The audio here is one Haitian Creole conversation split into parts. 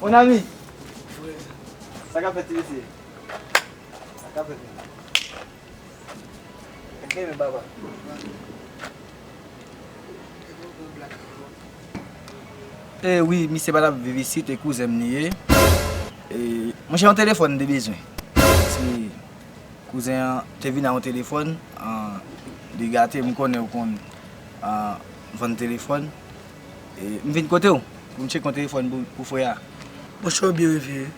Mon ami! Sa kap fèt ti mesye? Sa kap fèt menm? Ou gen menm papa? E wi, misye pa tap viv isit e kouzen m li ye. E monchè yon telefòn m te bezwen. Paske kouzen an te vin a yon telefòn li gate m konnen ou konn vann telefòn. M vin kote w pou m tchek yon telefòn pou frè a. Bon chè w byen refye wi.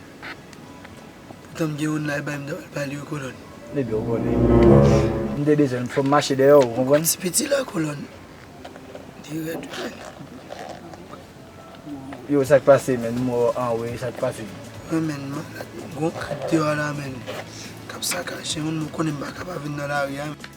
Poutan m gen yon la e bay m ta pral bay li wi kolòn. Ebyen w konnen m te bezwen l fò m mache dèyè w ou konprann. Ti piti la kolòn li rèd wi menn. Yo sa k pase menn m wè w anwe sa k pase. Mwen menn malad gon kad deyò la menn k ap sakaje m menn m konnen m pa ka pa vin nan lari a.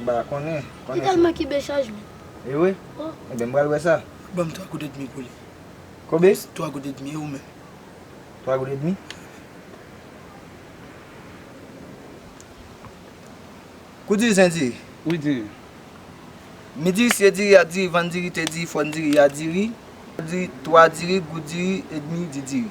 M pa konnen. Li tèlman kibe chajman. E wi? Enben m pral wè sa. Banm 3 goud edmi pou li. Konbyen? 3 goud edmi e ou menm? 3 goud edmi? Kou diri sen diri? Wi diri. Mi diri si e diri a diri vann diri te diri fòn diri ya diri. Diri 3 diri goud diri edmi di diri.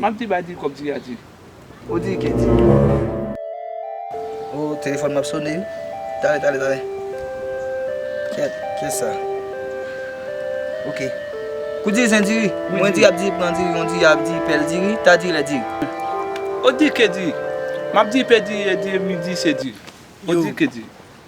Map di ba di kob di a di. Ou di ke di. Oh telefon m ap sone ui. Tale tale tale. Ket ket sa. Ok. Kou di zen diri. Mwen di ap di pran diri mwen di ap di pel diri ta di le diri. Ou di ke di. Map di pe diri e di midi se diri. Ou di ke di.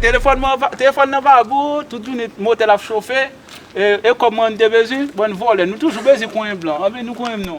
Telefòn nan va gou, tout jounen motèl ap chofe, e kòb mwen mte bezwen, bann vòlè, nou toujou bezwen konyen blan, anben nou konyen nou.